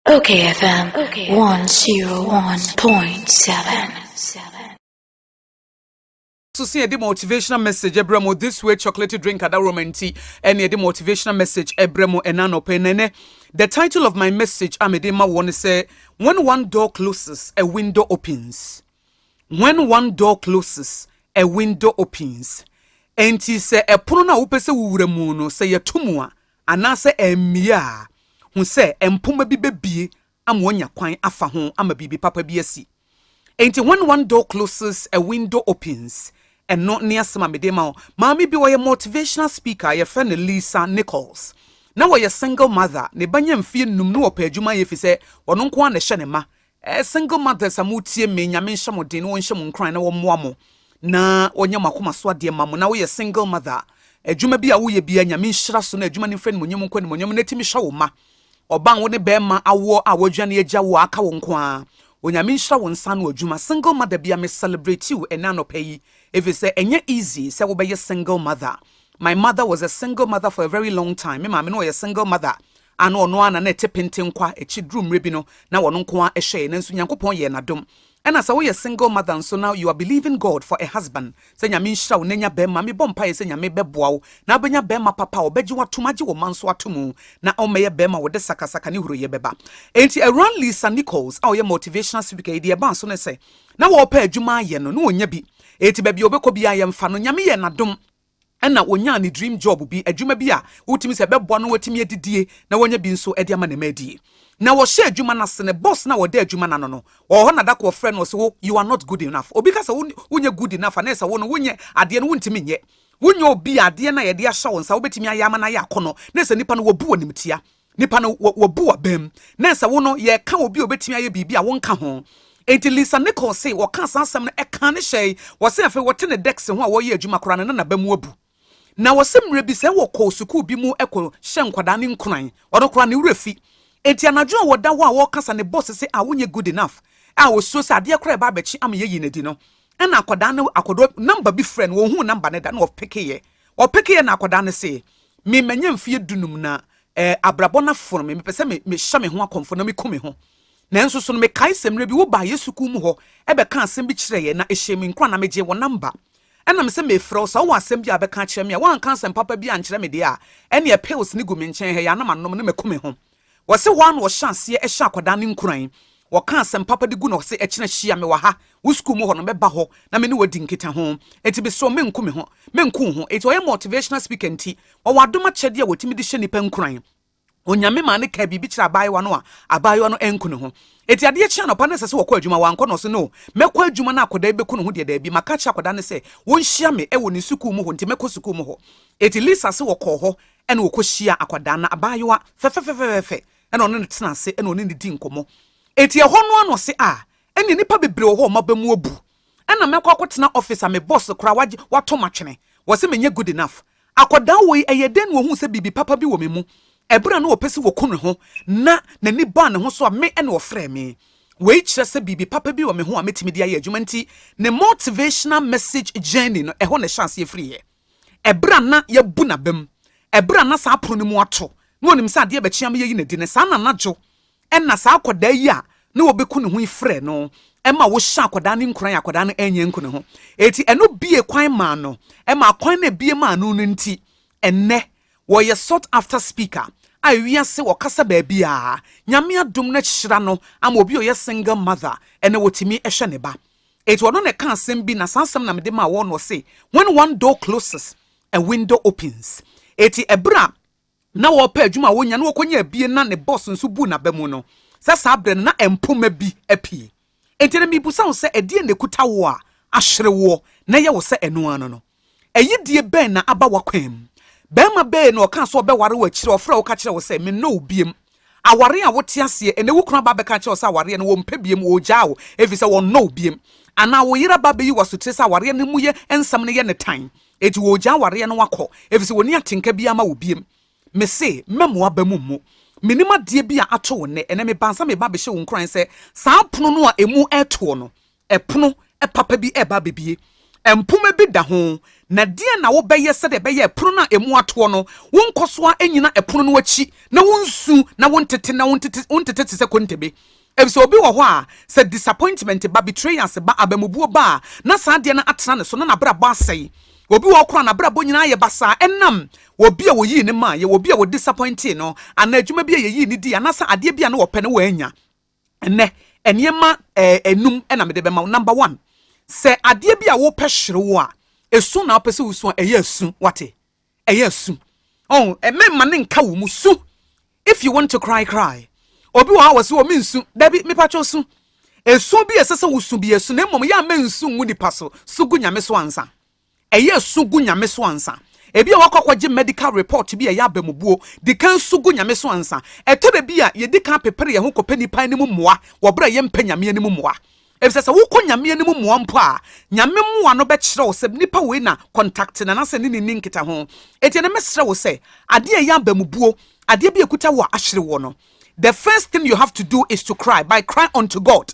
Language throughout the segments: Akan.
Okay FM 101.7 so sɛ yɛde motivational message ɛbrɛ mo this way chocolate drink adaworoma nti ɛne yɛde motivational message ɛbrɛ mo ɛna nɔpɛ nɛnɛ the title of my message a mede ma wɔn sɛ when one door closes a window opens when one door closes a window opens ɛnti sɛ ɛpono no a wopɛ sɛ wowura mu no sɛ yɛto mu a Anaasɛ ɛremmue a, hu sɛ mpoma bi bebue ama wɔanya kwan afa ho ama biribi papa bi asi. Enti When One Door Closes, A Window Opens, ɛno ne asɛm a mede rema wo. Maame bi, ɔyɛ motivational speaker a wɔfrɛ no Lisa Nichols. Ná ɔyɛ single mother, ne ba nya mfeɛ nnum na ɔpɛ adwuma yɛ efisɛ ɔno nko ara na ɛhyɛ ne ma. Eh single mothers a mo tie me nyame nhyɛ mo den na wɔnhyɛ mo nkuran na wɔmmoa mo na wɔnyɛ mo akoma so adeɛ ma mo na woyɛ single mother a adwuma bi a woyɛ bia nyame nhyira so na adwuma no mfa animonyam nkɔ animonyam na timi hwɛ wo ma ɔba wo ne bɛrima awoɔ a wɔadwa ne agya wo a aka wo nko ara onyame nhyira wo nsa no adwuma single mother bia me celebrate you ɛnɛ anɔpa yi ɛfiri sɛ ɛnyɛ easy sɛ wobɛyɛ single mother my mother was a single mother for a very long time me maame no ɔyɛ single mother a na ɔno ara na na ɛte penten kwa, akyi duru mmerɛ bi no na ɔno nko ara hwɛɛ, nanso Nyankopɔn yɛɛ no adom. Ɛna sɛ woyɛ single mother nso na you are believing God for a husband sɛ Nyame nhyira wo na nya bɛɛma, me bɔ mpaeɛ sɛ Nyame bɛboa wo na wobɛnya bɛɛma papa a ɔbɛgye wo atom, agye wo mma nso atomu na ɔmmɛyɛ bɛɛma a ɔde sakasaka ne huroyɛ bɛba. Enti Awuraa Lisa Nichols a ɔyɛ motivational speaker yi deɛ ɛbaa so ne sɛ na ɔɔpɛ adwuma ayɛ no na ɔnnya bi, enti baabi a ɔbɛkɔ biara yɛmfa no, Nyame yɛɛ no adom, Ɛnna onyaa ne dream job bi, adwuma bi a wotumi sɛ ɛbɛboa no ma watumi adidie na wanya bi nso de ama ne mma adi. Na wɔhyɛ adwuma no ase, ne boss no a ɔda adwuma no ano no, ɔwɔ hɔ na da koro ɔfrɛ no ɔse wo, you are not good enough. Obi ka sɛ wo, wonyɛ good enough a na ɛsɛ sɛ wo no, wonyɛ adeɛ no, wontumi nyɛ. Wonyɛ obi a adeɛ no a yɛde ahyɛ wo nsa wobɛtumi ayɛ ama no ayɛ akɔnnɔ, na ɛsɛ nnipa no wɔbu wo animtia. Nipa no wabu w'abam. Na sɛ wo no yɛka obi a obetumi ayɛ biribi a wonka ho. Enti Lisa Nichols se wɔkaa saa asɛm no ɛkaa ne hyɛe. Wɔse afei wɔte ne desk ho a wɔreyɛ adwuma koraa no na n'abam abu. Na wɔse mmerɛ bi sɛ wɔkɔ sukuu bi mu kɔ hyɛ nkwadaa no nkuran, ɔno koraa ne werɛ fi. Enti anadwo a wɔda hɔ a wɔrekasa ne boss se ah wonyɛ good enough a osuro sɛ adeɛ koraa ɛba abɛkye ama yɛayi no adi no, Ɛna akɔdaa no akɔdɔ nɔmba bi frɛ no wɔnhuu nɔmba no da na ɔpekeeɛ ɔpekeeɛ na akɔdaa no see me manya mfeɛ dunum na ɛɛ abrabɔ no afono me mepɛ sɛ me mehyɛ me ho akɔmfo na meku me ho nanso so no mekae sɛ mmerɛ bi wobaa yɛ sukuu mu hɔ ɛbɛka asɛm bi kyerɛ yɛ na ɛhyɛɛ me nkura na megyee wɔ nɔmba ɛna me sɛ mefrɛ wo sɛ wowɔ asɛm bi a bɛka akyerɛ me a woanka asɛm papa bi ankyerɛ me deɛ a ɛneɛ pills ne gu me nkyɛn ha yɛ a na manom na maku me ho Wɔse hɔ ara na wɔhyɛ aseɛ hyɛ akwadaa no nkuran, wɔka asɛm papa de gu na wɔse ɛkyena hyia me wɔ ha, wo sukuu mu hɔ no mɛba hɔ na me ne wo adi nkitaho, enti mesrɛ wo menko me ho, menko wo ho, enti ɔyɛ motivational speaker nti ɔwɔ adom akyɛdeɛ a ɔtumi de hyɛ nnipa nkuran. Onyame maa no kaa biribi kyerɛɛ abaayewa no a abaayewa no anku ne ho, enti adeɛ kye anɔpa na ɛsɛ sɛ wɔkɔ adwuma, wankɔ na ɔse no, mɛkɔ adwuma na akwadaa yi bɛku ne ho deɛ daabi, maka akyerɛ akwadaa no sɛ wɔnhyia me wɔ ne sukuu mu hɔ nti mɛkɔ sukuu mu hɔ, enti Lisa se wɔkɔɔ hɔ Ɛna ɔkɔhyiaa akwadaa no, abaayewa fɛfɛfɛfɛfɛfɛ, ɛna ɔne no tena ase, ɛna ɔne no di nkɔmmɔ. Enti ɛhɔ no ara na ɔse, ah, ɛnneɛ nnipa bebree wɔ hɔ a wɔaba mu abu. Ɛna mɛkɔ akɔtena office a me boss koraa wagye, watɔ m'atwene. Wɔse menyɛ good enough. Akwadaa woi, ɛyɛɛ dɛn na ɔhuu sɛ biribi papa bi wɔ me mu? Ɛberɛ a na ɔpɛ sɛ ɔku ne ho, na n'ani baa ne ho so a, me na ɔfrɛɛ me. Wei kyerɛ sɛ biribi papa bi wɔ me ho a mɛtumi de ayɛ adwuma. Enti ne motivational message journey no, ɛhɔ na ɛhyɛɛ aseɛ firiiɛ. Ɛberɛ a na yɛabu no abam, ɛberɛ a na saa pono no mu ato, na ɔnim sɛ adeɛ bɛkye ama yɛayi no adi no, saa na anadwo na saa akwadaa yi a na wɔbɛku ne ho yi frɛɛ no ma wɔhyɛɛ akwadaa no nkuran a akwadaa no anyɛ anku ne ho. Enti ɛno bue kwan maa no, ɛma akwan no a ɛbue maa no no nti, ɛnnɛ ɔyɛ sought after speaker a ewiase ɔkasa baabiara. Nyame adom na ahyira no ama obi a ɔyɛ single mother, ɛnna ɔtumi hwɛ ne ba. Enti ɔno na ɛka asɛm bi, na saa asɛm na mede maa wɔn, na ɔse, When one door closes, a window opens. Enti ɛberɛ a na wɔrepɛ adwuma a wɔnya na wɔkɔnya abie na ne boss nso buu n'aba mu no, sɛ saa berɛ no na mpoma bi apue. Enti ɛnnɛ merebisa wo sɛ, ɛdeɛn na ɛkuta wo a ahwere woɔ na ɛyɛ wo sɛ ɛno ara no no? Ayidie bɛn na aba w'akwan mu? Barima bɛn na ɔkaa sɛ ɔbɛware wo akyire a ɔfrɛɛ wo ka kyerɛɛ wo sɛ, mennɔ wo biom? Aware a wote aseɛ ɛnnɛ, wo kunu aba abɛka akyerɛ wo sɛ awareɛ no ɔmpɛ biom, ɔregyaa wo ɛfiri sɛ ɔnnɔ wo biom. Anaa wo yere aba abɛyi wo asotire sɛ awareɛ no mu yɛ nsɛm no yɛ no tan, enti ɔregyaa awareɛ no akɔ ɛfiri sɛ ɔnni atenka biara ma wo biom. Mese, mɛma w'aba mu mmu. Menim adeɛ bi a ato wo nnɛ, ɛnnɛ meba ansa meba abɛhyɛ wo nkuran sɛ saa pono no a ɛmu retoɔ no, Ɛpono papa bi reba abɛbue. Mpoma bi da ho. Na deɛn na wobɛyɛ sɛdeɛ ɛbɛyɛ a ɛpono no a ɛmu atoɔ no, wonkɔ so ara nnyina ɛpono no akyi na wonsu na wontete na wontete wontete te sɛ kontebe? Efisɛ obi wɔ hɔ a, sɛ disappointment ba, betrayals ba, abamubuo ba a, na saa adeɛ no atena ne so na n'abrabɔ asɛe. Obi wɔ hɔ koraa a, n'abrabɔ nyinaa ayɛ basaa ɛnam obi a wɔyii no maeɛ, obi a wɔdisappointee no, anaa adwuma bi a yɛyii no dii, anaasɛ adeɛ bi a na ɔpɛ na wannya. Ɛnnɛ, nneɛma nnum na mede bɛma wo. Number one, sɛ adeɛ bi a wopɛ hyere wo a, esu na wopɛ sɛ wosu a, ɛyɛ asu. Wate? Ɛyɛ asu. Ɔn, ɛmɛma ne nka wo mu su. If you want to cry, cry. Obi wɔ hɔ a wɔsi wɔ me nsu. Dabi, mepa kyɛw su. Esu bi a ɛsɛ sɛ wosu bi esu na mmom yɛ a mɛ nsu ngu nipa so. Su gu nyame so ansa. Ɛyɛ su gu Nyame so ansa. Ebia woakɔ akɔgye medical report bi a ɛyɛ abamubuo. Di kan su gu Nyame so ansa. Ɛtɔ da bi a, yɛdi kan pepere yɛn ho kɔpɛ nnipa anim mmoa wɔ berɛ a yɛmpɛ Nyame anim mmoa. Efisɛ sɛ wokɔ Nyame anim mmoa mpo a, Nyame mmoa no bɛkyerɛ wo sɛ nipa wei na contacte no anaasɛ ne ne nni nkitaho. Enti ɛnnɛ mɛsrɛ wo sɛ, adeɛ a ɛyɛ abamubuo, adeɛ bi a ɛkuta wo a ahyere woɔ no, the first thing you have to do is to cry, by cry unto God.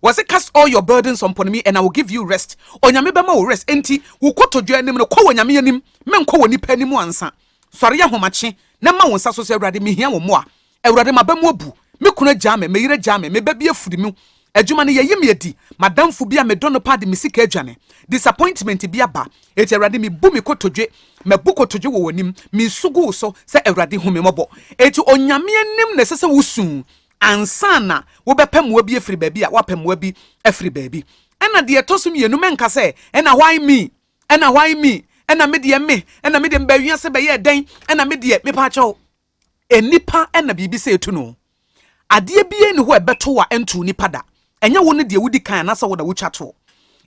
Wɔse cast all your burdens on pon me and I will give you rest Onyame bɛma wo rest Enti wo kotodwe anim no kɔ w'Onyame anim Menkɔ w'onipa anim ansa Sɔre ahomakye na ma wo nsa so sɛ Awurade mehia wo mmoa Awurade m'aba mu abu Me kunu agyaa me, me yere agyaa me, me ba bi afiri mu Adwuma no yɛayi me adi M'adamfo bi a medɔ no paa de me sika adwane Disappointment bi aba Enti Awurade mebu me kotodwe Mabu kotodwe wɔ w'anim Mesu gu wo so sɛ Awurade hu me mmɔbɔ Enti Onyame anim na ɛsɛ sɛ wosu ansa na wobɛpɛ mmoa bi afiri baabi a woapɛ mmoa bi afiri baabi. Ɛna deɛ ɛtɔ so mmienu, mɛnka sɛ, Ɛna why me? Ɛna why me? Ɛna me deɛ me? Ɛna me deɛ mebaa wiase bɛyɛɛ dɛn? Ɛna me deɛ mepa akyɛw. Nnipa na biribi sɛ etu no. Adeɛ biara ni hɔ a ɛbɛto a ɛntuu nipa da. Ɛnyɛ wo ne deɛ wodi kan anaasɛ wo na wotwa toɔ.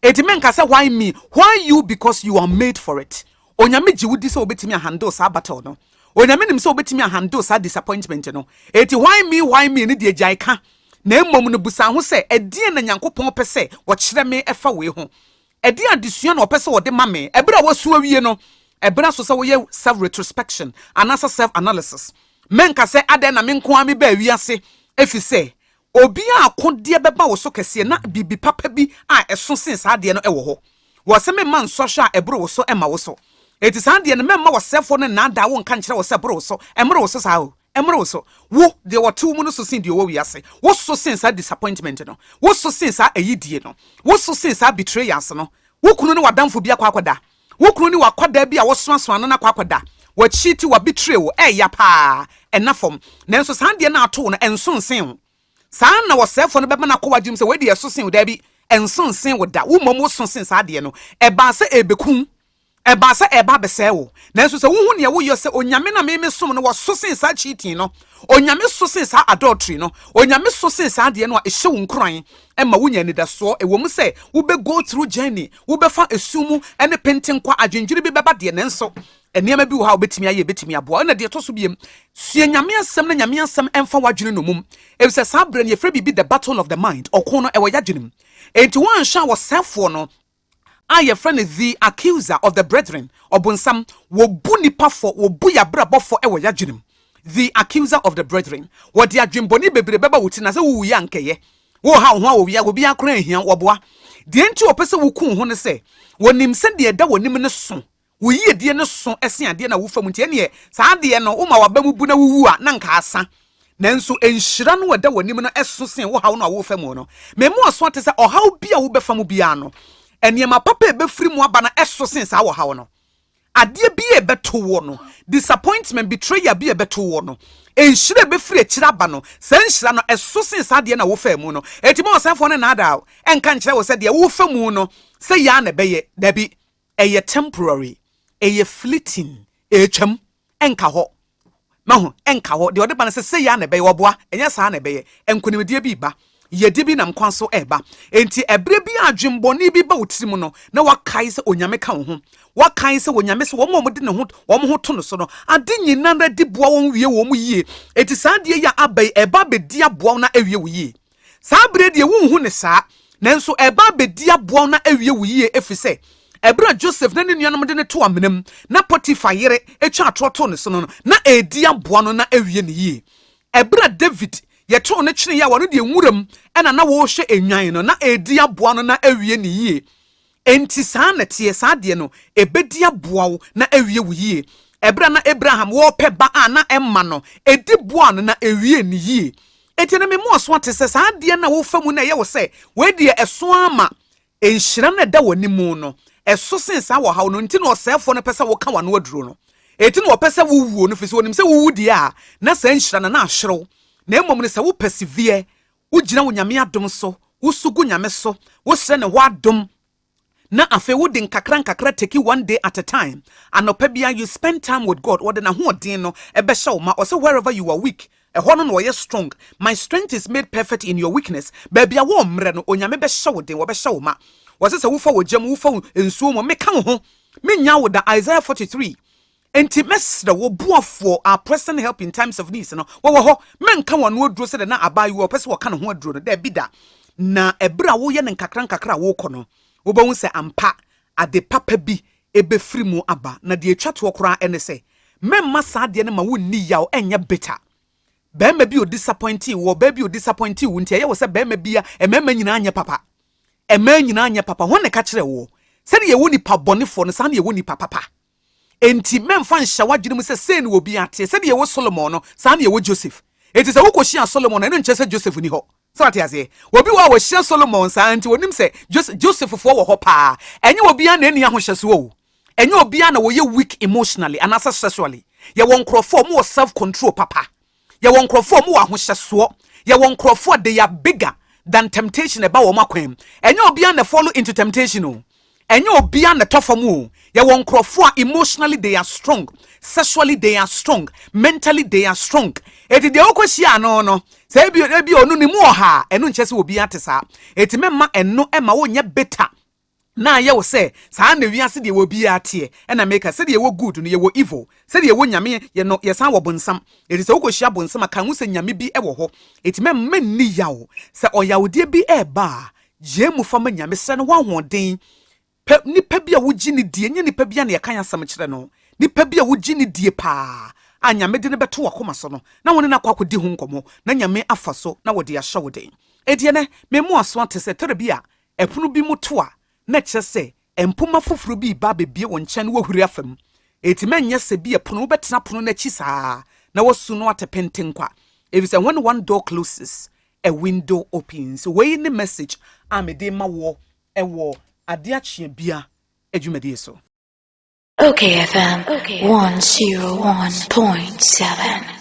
Enti menka sɛ why me, why you because you are made for it. Onyame gye wo di sɛ wobɛtumi a handle saa battle no. Onyame nim sɛ wobɛtumi a handle saa disappointment no. Enti why me, why me no deɛ gyae ka. Na mmom no busa ho sɛ ɛdeɛn na Nyankopɔn pɛ sɛ ɔkyerɛ me ɛfa wei ho? Ɛdeɛn adesua na ɔpɛ sɛ ɔde ma me ɛberɛ a woasu awie no? Ɛberɛ aso sɛ woyɛ self retrospection anaasɛ self analysis. Menka sɛ adɛn na me nko ara mebaa wiase efisɛ Obi a akodeɛ bɛba wo so kɛseɛ na biribi papa bi a ɛso sen saa adeɛ no wɔ hɔ. Wɔ sɛ memma nsɔhwɛ a ɛboro wo so mma wo so. Enti saa adeɛ no, mɛmma ɔsɛefoɔ no nnaadaa wo nka nkyerɛ wo sɛ boro wo so. Ɛmmoro wo so saa o. Ɛmmoro wo so. Wo, deɛ wɔte wo mu no so sen deɛ ɔwɔ wiase. Wo so sen saa disappointment no. Wo so sen saa ayidie no. Wo so sen saa betrayals no. Wo kunu ne w'adamfo bi akɔ akɔda. Wo kunu ne w'akwadaa bi a wosoasoa no no akɔ akɔda w'akyi ti, wabetray wo, ɛreya paa, ɛna fam. Nanso saa adeɛ no a ato wo no, ɛnso nsen wo. Saa ara na ɔsɛefoɔ no bɛba no akɔ w'adwenem sɛ wei deɛ ɛso sen wo. Dabi, ɛnso nsen wo da. Wo mmom woso sen saa adeɛ no. Ɛbaa sɛ ɛrebɛku wo. Ɛbaa sɛ ɛreba abɛsɛe wo. Nanso sɛ wohu nea woyɔ sɛ Onyame na memesom no, wɔso sen saa cheating no. Onyame so sen saa adultery no. Onyame so sen saa adeɛ no a ɛhyɛ wo nkuran ɛma wunya anidasoɔ, ɛwom sɛ wobɛ go through journey, wobɛfa ɛsu mu ne penten kwa, adwendwene bi bɛba deɛ, nanso nneɛma bi wɔ hɔ a wobɛtumi ayɛ, ɛbɛtumi aboa. Ɛna deɛ ɛtɔ so biem, sua Nyame asɛm na Nyame asɛm ɛmfa w'adwene nomum, ɛfisɛ saa berɛ no yɛfrɛ biribi the battle of the mind, ɔko no ɛwɔ yɛadwene mu, enti woanhwɛ a ɔsɛefoɔ no, a yɛfrɛ no The Accuser of the Brethren, Ɔbonsam, Wɔbu nnipa fɔ, wɔbu y'abrabɔ fɔ wɔ y'adwene mu, The Accuser of the Brethren, Wɔde adwemmɔne bebree bɛba wo tirim, na sɛ wowuiɛ a anka ɛyɛ, Worehaw wo ho a owia, obiara koraa nhia wo, ɔboa. Deɛ enti a wɔpɛ sɛ woku wo ho ne sɛ, wɔnim sɛ deɛ ɛda w'anim no sõ, Wo yiedie no so sen adeɛ no a wofa mu, nti ɛnneɛ saa adeɛ no, woma w'aba mu bu na wowu a, na anka asa. Nanso nhyira no a ɛda w'anim no so sen wo haw no a worefa mu no. Me mmoaso ara te sɛ ɔhaw bi a wobɛfa mu biara no, nneɛma papa a ɛbɛfiri mu aba no so sen saa ɔhaw no. Adeɛ bi a ɛbɛto woɔ no, disappointment, betrayal bi a ɛbɛto woɔ no, nhyira a ɛbɛfiri akyire aba no, saa nhyira no so sen saa adeɛ no a wofaa mu no. Enti ma ɔsɛefoɔ no nnaadaa wo, ɛnka nkyerɛ wo sɛ deɛ worefa mu no, sɛ yei ara na ɛbɛyɛ. Dabi. ɛyɛ temporary, ɛyɛ fleeting, ɛretwam, ɛnka hɔ. Mahu, ɛnka hɔ. Deɛ ɔde ba no sɛ sɛyi ara na ɛbɛyɛ, ɔboa, ɛnyɛ saa na ɛbɛyɛ. Nkonimdie bi reba, yiedie bi nam kwan so reba. Enti ɛberɛ bi a adwemmɔne bi ba wo tirim no, na wakae sɛ Onyame ka wo ho. Wakae sɛ Onyame sɛ wɔn a wɔde ne ho, wɔn ho to no so no, ade nyinara di boa wɔn wie wɔn yie. Enti saa adeɛ yi a aba yi, ɛba abɛdi aboa wo na awie wo yie. Saa bere deɛ wonhu no saa, nanso ɛreba abɛdi aboa wo na awie wo yie efisɛ, ɛberɛ a Joseph ne ne nuanom de no too amena mu na Potiphar yere twa atorɔ too ne so no, na ɛredi aboa no na awie no yie. Ɛberɛ a David yɛtoo no kyeneeɛ a ɔno deɛ nwura mu na na wɔrehwɛ nnwan no, na ɛredi aboa no na awie no yie. Enti saa na ɛteɛ, saa deɛ no, ɛbɛdi aboa wo na awie wo yie. Ɛberɛ a na Abraham wɔrepɛ ba a na ɛmma no, ɛdi boaa no na ɛwiee no yie. Enti ɛnnɛ mema wo aso ate sɛ saa adeɛ no a wofa mu na ɛyɛ wo sɛ wei deɛ ɛso ara ma nhyira no a ɛda w'anim no, ɛso sen saa wɔ haw no nti na ɔsɛefoɔ no pɛ sɛ woka w'ano aduro no. Enti na ɔpɛ sɛ wowuo no firi sɛ ɔnim sɛ wowu deɛ a na saa nhyira no na ahwere wo. Na mmom no sɛ wo pɛsiviɛ Wogyina wo Nyame adom so, wosu gu Nyame so, wosrɛ ne hɔ adom, na afei wode nkakra nkakra take one day at a time, anɔpa biara you spend time with God, ɔde n'ahoɔden no bɛhyɛ wo ma, ɔse wherever you are weak, ɛhɔ no na ɔyɛ strong, my strength is made perfect in your weakness, baabi a wɔmmrɛ no, Onyame bɛhyɛ wo den, wɔbɛhyɛ wo ma. Ɔse sɛ wofa wɔ gya mu, wofa wo nsuo mu, meka wo ho, mennyaa wo da, Isaiah 43 Enti mɛsrɛ wo, Boafoɔ, our present help in times of needs no, wowɔ hɔ. Mɛnka wo ano aduro sɛdeɛ na abaayewa a ɔpɛ sɛ ɔka ne ho aduro no, daabi da. Na ɛberɛ a woyɛ no nkakrankakra a worekɔ no, wobɛhu sɛ ampa ade papa bi bɛfiri mu aba. Na deɛ ɛtwa toɔ koraa ne sɛ, mɛmma saa adeɛ no ma wonni yaw, ɛnyɛ bitter. Barima bi a ɔdisapɔintee wo, ɔbaa bi a ɔdisapɔintee wo nti, ɛyɛ wo sɛ barima bi a mmarima nyinaa nyɛ papa. Mmaa nyinaa nyɛ papa. Hwan na ɛka kyerɛɛ woɔ? Sɛdeɛ yɛwɔ nipa bɔnefoɔ no, saa na yɛwɔ nipa papa. Enti mɛmfa nhyɛ w'adwene mu sɛ sei na obiara teɛ. Sɛdeɛ ɛwɔ Solomon no, saa na ɛwɔ Joseph. Enti sɛ wokɔhyiaa Solomon a, ɛno nkyerɛ sɛ Joseph nni hɔ. So woate aseɛ? Obi wɔ hɔ a ɔhyia Solomon saa ara, enti ɔnim sɛ Joseph, Josephfoɔ wɔ hɔ paa. Ɛnyɛ obiara na ɛnni ahohyɛsoɔ o. Ɛnyɛ obiara na wɔyɛ weak emotionally anaasɛ sexually. Yɛwɔ nkorɔfoɔ a wɔwɔ self control papa. Yɛwɔ nkurɔfoɔ a wɔwɔ ahohyɛsoɔ. Yɛwɔ nkurɔfoɔ a they are bigger than temptation a ɛba wɔn akwan mu. Ɛnyɛ obiara na follow into temptation o. Ɛnyɛ obiara na ɛtɔ fam o. Yɛwɔ nkurɔfoɔ a emotionally they are strong, sexually they are strong, mentally they are strong. Eti deɛ wokɔhyia ano no, sɛ ebi ebi ɔno ne mu ɔha a, ɛno nkyɛ sɛ obiara te saa. Eti mɛma ɛno ɛma wonyɛ bitter. Na ayɛ wo sɛ saa na wiase deɛ ɛwɔ biara teɛ? Ɛna meka, sɛdeɛ yɛwɔ good no, yɛwɔ evil. Sɛdeɛ yɛwɔ Nyame yɛ no, yɛsan wɔ bonsam. Enti sɛ wokɔhyia bonsam a, kae ho sɛ Nyame bi wɔ hɔ. Enti mɛmma nni yaw. Sɛ ɔyawdeɛ bi reba a, gyae mu fa ma Nyame. Srɛ No hɔ ahoɔden. Pɛ nipa bi a wogye no die. Nyɛ nipa biara na yɛka yɛn asɛm kyerɛ no. Nipa bi a wogye no die paa a Nyame de no bɛto w'akoma so no, na wo ne no akɔ akɔdi ho nkɔmmɔ, na Nyame afa so na ɔde ahyɛ wo den. Enti ɛnnɛ, me mmoaso ate sɛ tɛrɛ bi a Ɛpono bi mu to a, na ɛkyerɛ sɛ mpomma foforo bi reba abebue wo nkyɛn na woahuri afa mu. Enti ma ɛnyɛ sɛ bi a pono wobɛtena pono no akyi saa ara na woasu no atepenten kwa, efisɛ when one door closes, a window opens. Wei ne message a mede rema wo wɔ Ade Akyea Bia dwumadie so. Ok FM 101.7.